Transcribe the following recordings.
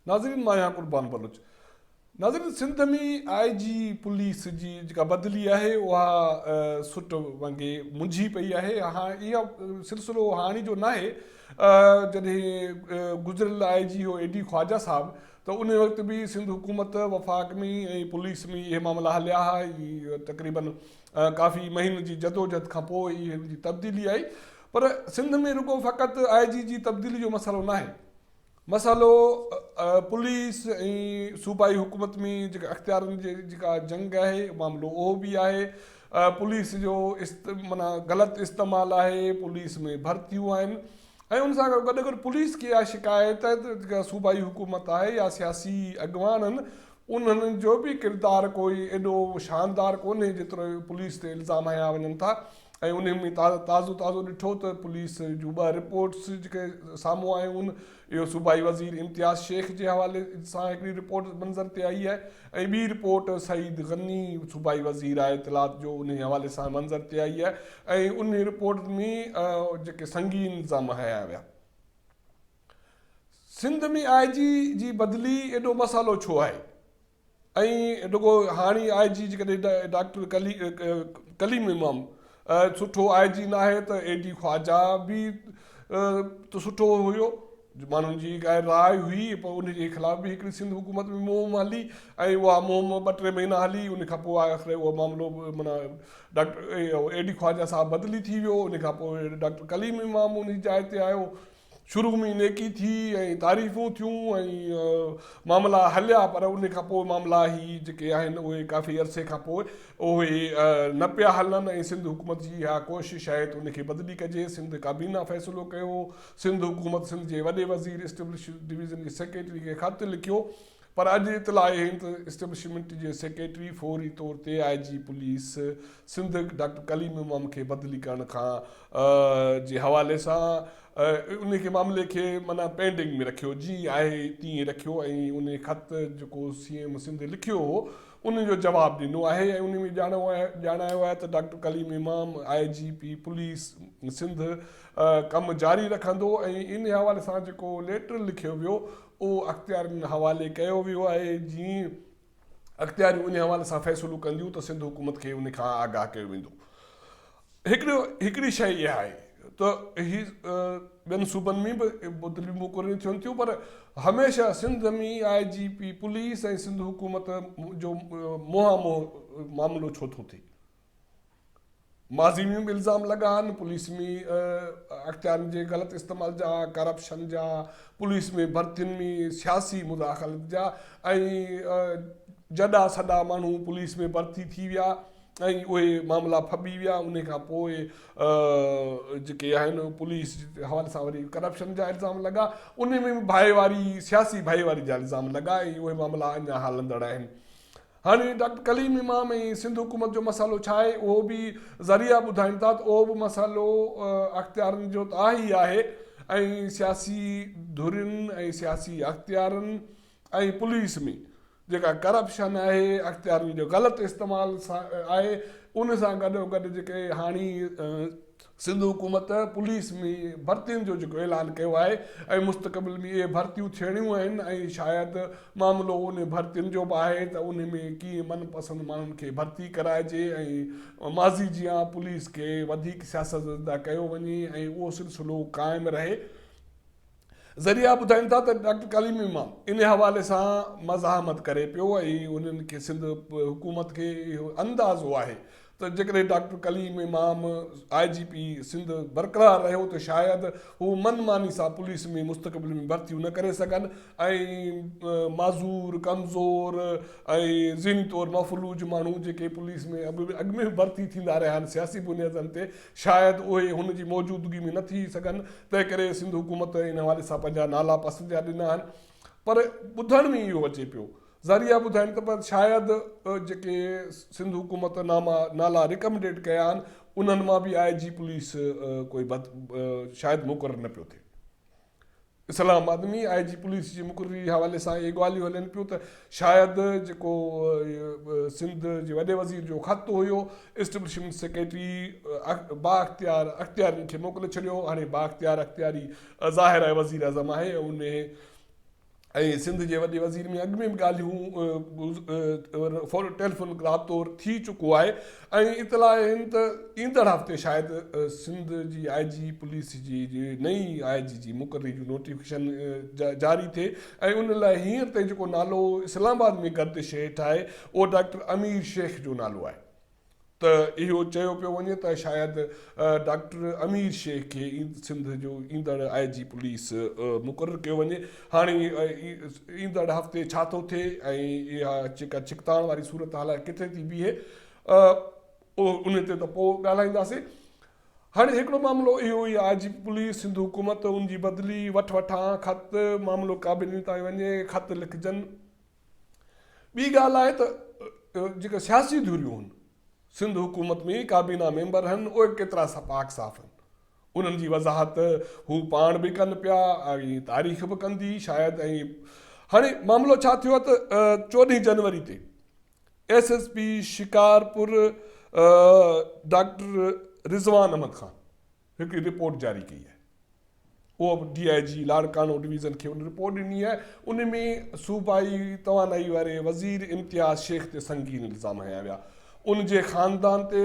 ناظرين مان آهيان قربان بلوچ ناظرين سنڌ ۾ آء جي پوليس جي جيڪا بدلي آهي اها سٽ وانگي منجهي پئي آهي اها اها سلسلو هاڻي جو ناهي جڏهن گذريل آء جي هو اي ڊي خواجه صاحب ته انهي وقت به سنڌ حڪومت وفاق ۾ ۽ پوليس ۾ اهي معاملا هليا ها ۽ تقريباً ڪافي مهينن جي جدوجھد کان پوء ئي هن جي تبديلي آئي پر سنڌ ۾ رڳو فقط آء جي جي تبديلي جو مسئلو ناهي مسئلو پوليس ۽ صوبائي حڪومت ۾ جيڪا اختيارن جي جيڪا جنگ آهي معاملو اهو به آهي پوليس جو است معنيٰ غلط استعمال آهي پوليس ۾ ڀرتيون آهن ۽ ان سان گڏ گڏ گڏ پوليس کي اها شڪايت جيڪا صوبائي حڪومت آهي يا سياسي اڳواڻ آهن انهن جو به ڪردار ڪوئي ايڏو شاندار ڪونهي جيترو پوليس تي الزام هنيا وڃن ٿا ۽ انهن ۾ تازو تازو ڏٺو ته پوليس جون ٻه رپورٽس جيڪي سامهون آيون اهو صوبائي وزير امتياز شيخ جي حوالي سان هڪڙي رپورٽ منظر تي آئي آهي ۽ ٻي رپورٽ سعيد غني صوبائي وزير آهي اطلاعات جو انهي حوالي سان منظر تي آئي آهي ۽ انهي رپورٽ ۾ جيڪي سنگين الزام هنيا ويا سنڌ ۾ آء جي جي بدلي ايڏو مسئلو ڇو آهي؟ ائين رڳو هاڻي آء جي جيڪڏهن ڊاڪٽر ڪليم امام سٺو آء جي ناهي ته اي ڊي خواجا به ته سٺو هيو ماڻهن جي هڪ راء هئي پر ان جي خلاف به هڪڙي سنڌ حڪومت ۾ مهم هلي ۽ اها مهم ٻه ٽي مهينا هلي ان کان پوء آخر اهو معاملو مانا ڊاڪٽر اي ڊي خواجا صاحب بدلي ٿي ويو ان کان پوء ڊاڪٽر ڪليم امام ان جي جاء تي آيو شروع ۾ نيڪي ٿي ۽ تعريفون ٿيون ۽ معاملا هليا پر ان کان پوء معاملا هي جيڪي آهن اهي ڪافي عرصي کان پوء اهي نه پيا هلن ۽ سنڌ حڪومت جي اها ڪوشش آهي ته ان کي بدلي ڪجي سنڌ ڪابينا فيصلو ڪيو سنڌ حڪومت سنڌ جي وڏي وزير اسٽيبلشمينٽ ڊويزن جي سيڪريٽري کي خط لکيو پر اڄ اطلاع اهي ته اسٽيبلشمينٽ جي سيڪريٽري فوري طور تي I G police Sindh doctor Kaleem Imam کي بدلي ڪرڻ کان جي حوالي سان انهي کي معاملي کي معنيٰ پينڊنگ ۾ رکيو جيئن آهي تيئن رکيو ۽ انهي خط جيڪو سي ايم سنڌ لکيو هو ان جو جواب ڏنو آهي ۽ انهي ۾ ڄاڻايو آهي ته doctor Kaleem Imam I G P police Sindh ڪم جاري رکندو ۽ انهي حوالي سان جيڪو ليٽر لکيو ويو اهو اختيار ان حوالي ڪيو ويو آهي جيئن اختياريون ان حوالي سان فيصلو ڪنديون ته سنڌ حڪومت کي ان کان آگاهه ڪيو ويندو هڪڙو هڪڙي شيء اها آهي ته هي ٻين صوبن ۾ به بدليون مقرريون ٿين ٿيون پر هميشه Sindh ۾ I G P police ۽ Sindh حڪومت جو منهان منهن معاملو ڇو ٿو ٿئي ماضي ۾ به الزام لڳا آهن پوليس ۾ اختيارن جي غلط استعمال جا ڪرپشن جا پوليس ۾ ڀرتين ۾ سياسي مداخلت جا ۽ جڏا سڏا ماڻهو پوليس ۾ ڀرتي ٿي ويا ۽ اهي معاملا ڦٻي ويا ان کان پوء جيڪي آهن پوليس جي حوالي سان وري ڪرپشن جا الزام لڳا ان ۾ به ڀائيواري سياسي ڀائيواري جا الزام لڳا ۽ اهي معاملا اڃا هلندڙ آهن هاڻي ڊاڪٽر ڪليم امام ۽ سنڌ حڪومت جو مسئلو ڇا آهي اهو به ذريعا ٻڌائين ٿا ته اهو به مسئلو اختيارن جو ته آهي ئي آهي ۽ سياسي ڌرين ۽ سياسي اختيارن ۽ پوليس ۾ جيڪا ڪرپشن آهي اختيارن جو غلط استعمال آهي ان سان گڏوگڏ جيڪي هاڻي سنڌ حڪومت پوليس ۾ ڀرتين جو جيڪو اعلان ڪيو آهي ۽ مستقبل ۾ اهي ڀرتيون ٿيڻيون آهن ۽ شايد معاملو انهي ڀرتين جو به آهي ته انهي ۾ ڪيئن من پسند ماڻهن کي ڀرتي ڪرائجي ۽ ماضي جيان پوليس کي وڌيڪ سياست زده ڪيو وڃي ۽ اهو سلسلو قائم رهي. ذريعا ٻڌائين ٿا ته ڊاڪٽر ڪليم امام ان حوالي سان مزاحمت ڪري پيو ۽ انهن کي سنڌ حڪومت کي اهو اندازو آهي ته جيڪڏهن doctor Kaleem Imam I G P Sindh برقرار رهيو ته شايد هو من ماني سان پوليس ۾ مستقبل ۾ ڀرتيون نه ڪري سگهن ۽ معذور ڪمزور ۽ ذهني طور مفلوج ماڻهو جيڪي پوليس ۾ اڳ ۾ ڀرتي ٿيندا رهيا آهن سياسي بنيادن تي شايد اهي هن جي موجودگي ۾ نه ٿي سگهن، تنهنڪري سنڌ حڪومت ان حوالي سان پنهنجا نالا پسند جا ڏنا آهن. پر ٻڌڻ ۾ اهو اچي پيو. ذريعا ٻڌائين ته شايد جيڪي سنڌ حڪومت ناما نالا ريڪمنڊيڊ ڪيا آهن، انهن مان به آء جي پوليس ڪوئي شايد مقرر نه پيو ٿئي. اسلام آباد ۾ آء جي پوليس جي مقرري جي حوالي سان اهي ڳالهيون هلن پيون ته شايد جيڪو سنڌ جي وڏي وزير جو خط هيو اسٽبلشمينٽ سيڪريٽري بااختيار اختيارين کي موڪلي ڇڏيو هاڻي بااختيار اختياري ظاهر آهي وزيراعظم آهي ۽ انهي ۽ سنڌ جي وڏي وزير ۾ اڳ ۾ به ڳالهيون فون ٽيليفون رابطو ٿي چڪو آهي ۽ اطلاع آهن ته ايندڙ هفتي شايد سنڌ جي آء جي پوليس جي نئين آء جي جي مقرري جو نوٽيفڪيشن جاري ٿئي ۽ ان لاء هينئر تائين جيڪو نالو اسلام آباد ۾ گردش هيٺ آهي اهو ڊاڪٽر امير شيخ جو نالو آهي ته اهو چيو پيو وڃي ته شايد ڊاڪٽر امير شيخ کي سنڌ جو ايندڙ آء جي پوليس مقرر ڪيو وڃي هاڻي ايندڙ هفتي ڇا ٿو ٿئي ۽ اها جيڪا ڇڪتاڻ واري صورتحال آهي ڪٿي ٿي بيهي ان تي ته پوء ڳالهائينداسين هاڻي هڪڙو معاملو اهو ئي آء جي پوليس سنڌ حڪومت ان جي بدلي وٺ وٺان خط معاملو ڪابيني تائين وڃي خط لکجن ٻي ڳالهه آهي ته جيڪا سياسي ڌريون هن سنڌ حڪومت ۾ ڪابينا ميمبر هن اهي به ڪيترا سا پاڪ صاف هن انهن جي وضاحت هو پاڻ به ڪن پيا ۽ تاريخ به ڪندي شايد ۽ هاڻي معاملو ڇا ٿيو ته چوڏهين جنوري تي S S P Shikarpur doctor Rizwan Ahmed Khan هڪڙي رپورٽ جاري ڪئي آهي اهو به D I G Larkana division کي ان رپورٽ ڏني آهي ان ۾ صوبائي توانائي واري وزير امتياز شيخ تي سنگين الزام هنيا ويا ان جي خاندان تي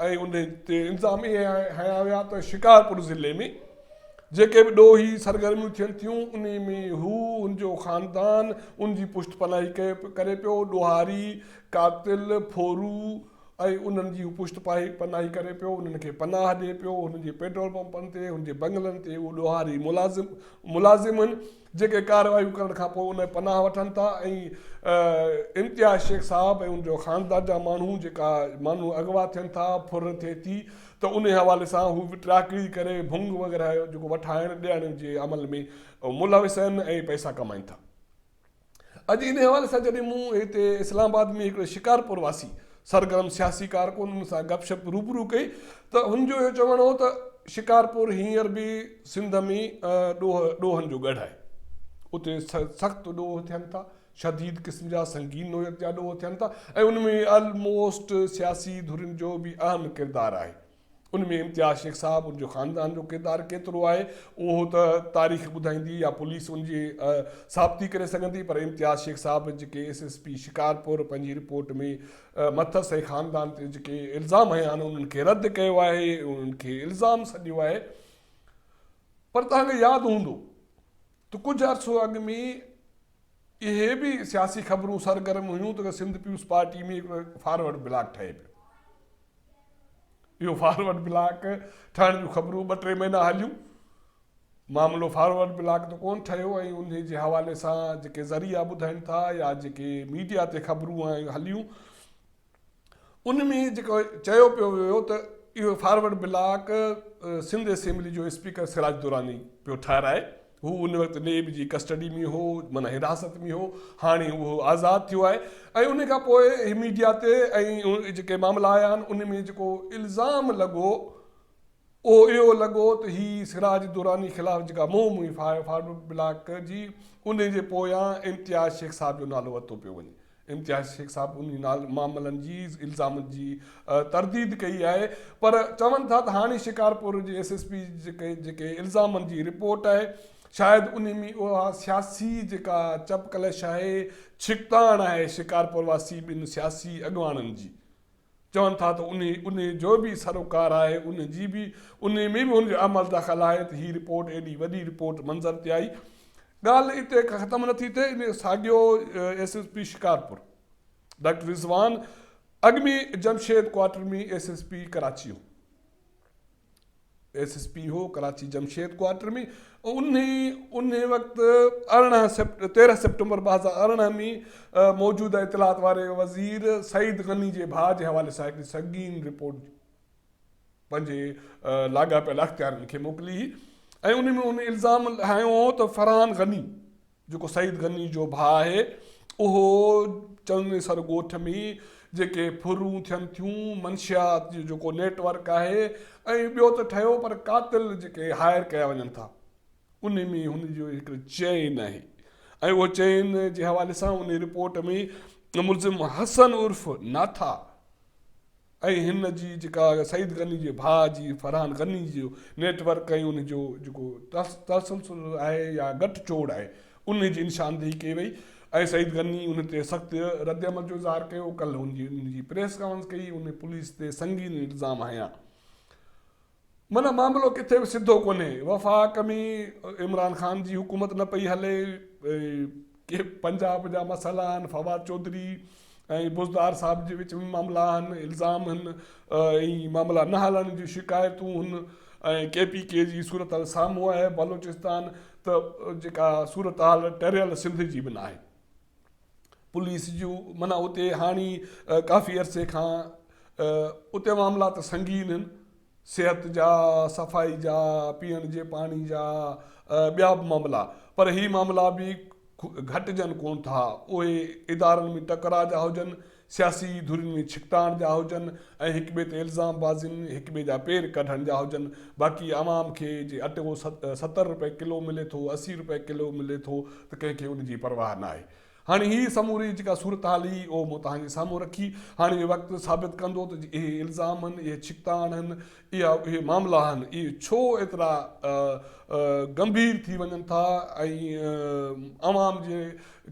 ۽ ان تي الزام اهي هنيا ويا ته شڪارپور ضلعي ۾ جيڪي به ڏوهي سرگرميون ٿين ٿيون ان ۾ هو ان جو خاندان ان جي پشت پناهي ڪري پيو ڏوهاري قاتل ڦورو ۽ انهن جي هو پشت پاهي پناهي ڪري پيو، انهن کي پناهه ڏئي پيو، هن جي پيٽرول پمپن تي، هن جي بنگلن تي اهي ڏوهاري ملازم ملازم هن جيڪي ڪارروايون ڪرڻ کان پوء انهن پناهه وٺن ٿا ۽ امتياز شيخ صاحب ۽ ان جو خاندان جا ماڻهو جيڪا ماڻهو اغوا ٿين ٿا، ڦر ٿئي ٿي ته انهي حوالي سان هو به ٽراڪڙي ڪري ڀنگ وغيره جيڪو وٺائڻ ڏيڻ جي عمل ۾ ملوث آهن ۽ پئسا ڪمائين ٿا. اڄ انهي حوالي سان جڏهن مون هتي اسلام آباد ۾ هڪڙي شڪارپور واسي سرگرم سياسي ڪارڪن سان گپ شپ روبرو ڪئي ته هن جو اهو چوڻ هو ته شڪارپور هينئر به سنڌ ۾ ڏوهه ڏوهن جو ڳڙهه آهي اتي سخت ڏوهه ٿين ٿا شديد قسم جا سنگين نوعيت جا ڏوهه ٿين ٿا ۽ ان ۾ الموسٽ سياسي ڌرين جو به اهم ڪردار آهي ان ۾ امتياز شيخ صاحب ان جو خاندان جو ڪردار ڪيترو آهي اهو ته تاريخ ٻڌائيندي يا پوليس ان جي ثابتي ڪري سگهندي پر امتياز شيخ صاحب جيڪي ايس ايس پي شڪارپور پنهنجي رپورٽ ۾ مٿس ۽ خاندان تي جيڪي الزام هنيا آهن انهن کي رد ڪيو آهي انهن کي الزام سڏيو آهي پر توهان کي ياد هوندو ته ڪجهه عرصو اڳ ۾ اهي به سياسي خبرون سرگرم هيون ته Sindh peoples party ۾ forward bloc ٺهي پيو اهو فارورڊ بلاڪ ٺهڻ جون خبرون ٻه ٽي مهينا هليون. معاملو فارورڊ بلاڪ ته ڪونه ٺهيو ۽ انهي جي حوالي سان جيڪي ذريعا ٻڌائين ٿا يا جيڪي ميڊيا تي خبرون هليون ان ۾ جيڪو چيو پيو ويو ته اهو فارورڊ بلاڪ سنڌ اسيمبلي جو اسپيڪر سراج دراني پيو ٺهرائي. هو ان وقت نيب جي ڪسٽڊي ۾ هو معنيٰ حراست ۾ هو هاڻي اهو آزاد ٿيو آهي ۽ ان کان پوء ميڊيا تي ۽ جيڪي معاملا آيا آهن ان ۾ جيڪو الزام لڳو اهو اهو لڳو ته هي سراج دراني خلاف جيڪا مهم هئي فارورڊ بلاڪ جي ان جي پويان امتياز شيخ صاحب جو نالو ورتو پيو وڃي امتياز شيخ صاحب انهي نال معاملن جي الزامن جي ترديد ڪئي آهي پر چون ٿا ته هاڻي شڪارپور جي ايس ايس پي جيڪي الزامن جي رپورٽ آهي شايد انهي ۾ اها سياسي جيڪا چپ ڪلش آهي ڇڪتاڻ آهي شڪارپور واسي ٻن سياسي اڳواڻن جي چون ٿا ته انهي انهي جو به سروڪار آهي انهي جي به انهي ۾ به هن جو عمل دخل آهي ته هي رپورٽ ايڏي وڏي رپورٽ منظر تي آئي ڳالهه اتي ختم نٿي ٿئي انهي ساڳيو S S P Shikarpur doctor Rizwan اڳ ۾ Jamshed quarter ۾ S S P ڪراچيء ايس ايس پي هو ڪراچي جمشيد ڪوارٽر ۾ انهي انهي وقت ارڙهن سيپٽ تيرهن سيپٽمبر ٻه هزار ارڙهن ۾ موجوده اطلاعات واري وزير سعيد غني جي ڀاء جي حوالي سان هڪڙي سنگين رپورٽ پنهنجي لاڳاپيل اختيارين کي موڪلي هئي ۽ انهي ۾ هن الزام هنيو هو ته فرحان غني جيڪو سعيد غني جو ڀاء آهي، اهو چنويسر ڳوٺ ۾ جيڪي ڦرون ٿين ٿيون، منشيات جو جيڪو نيٽ ورڪ آهي ۽ ٻيو ته ٺهيو پر قاتل جيڪي هائر ڪيا وڃن ٿا، ان ۾ هن جو هڪ چين آهي ۽ اهو چين جي حوالي سان ان رپورٽ ۾ ملزم حسن عرف ناٿا، ۽ هن جي جيڪا سعيد غني جي ڀاء جي فرحان غني جو نيٽ ورڪ ۽ ان جو جيڪو تسلسل آهي يا ڳٺ جوڙ آهي انهي جي نشاندهي ڪئي وئي ۽ سعيد غني ان تي سخت رد عمل جو اظهار ڪيو ڪلهه هن جي پريس ڪانفرنس ڪئي ان پوليس تي سنگين الزام هنيا. معنيٰ معاملو ڪٿي به سڌو ڪونهي، وفاق ۾ عمران خان جي حڪومت نه پئي هلي، ڪي پنجاب جا مسئلا آهن، فواد چوڌري ۽ بوزدار صاحب جي وچ ۾ معاملا آهن، الزام هن ۽ معاملا نه هلڻ جون شڪايتون هن ۽ ڪي پي ڪي جي صورتحال سامهون آهي، بلوچستان ته جيڪا صورتحال ٽريل سنڌ جي به ناهي. پوليس جون معنيٰ اتي هاڻي ڪافي عرصي کان اتي معاملا ته سنگين آهن صحت جا صفائي جا پيئڻ جي پاڻي جا ٻيا به معاملا پر هي معاملا به گهٽجن ڪون ٿا اهي ادارن ۾ ٽڪرا جا هجن سياسي ڌرين ۾ ڇڪتاڻ جا هجن ۽ هڪ ٻئي تي الزام بازين، هڪ ٻئي جا پير ڪڍڻ جا هجن، باقي عوام کي جي اٽو ستر روپيه ڪلو ملي ٿو، اسي روپيه ڪلو ملي ٿو ته ڪنهن کي ان جي پرواهه ناهي. هاڻي هي سموري جيڪا صورتحال هئي اهو مون توهان جي سامهون رکي. هاڻي اهو وقت ثابت ڪندو ته جي اهي الزام هن، اهي ڇڪتاڻ هن، اها اهي معاملا آهن، اهي ڇو ايترا ڳنڀير ٿي وڃن ٿا ۽ عوام جي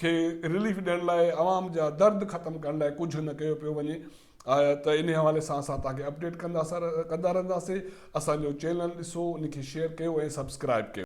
کي رليف ڏيڻ لاء عوام جا درد ختم ڪرڻ لاء ڪجهه نه ڪيو پيو وڃي ته انهي حوالي سان اسان توهان کي اپڊيٽ ڪندا رهنداسين اسان جو چينل ڏسو ان کي شيئر ڪيو ۽ سبسڪرائب ڪيو.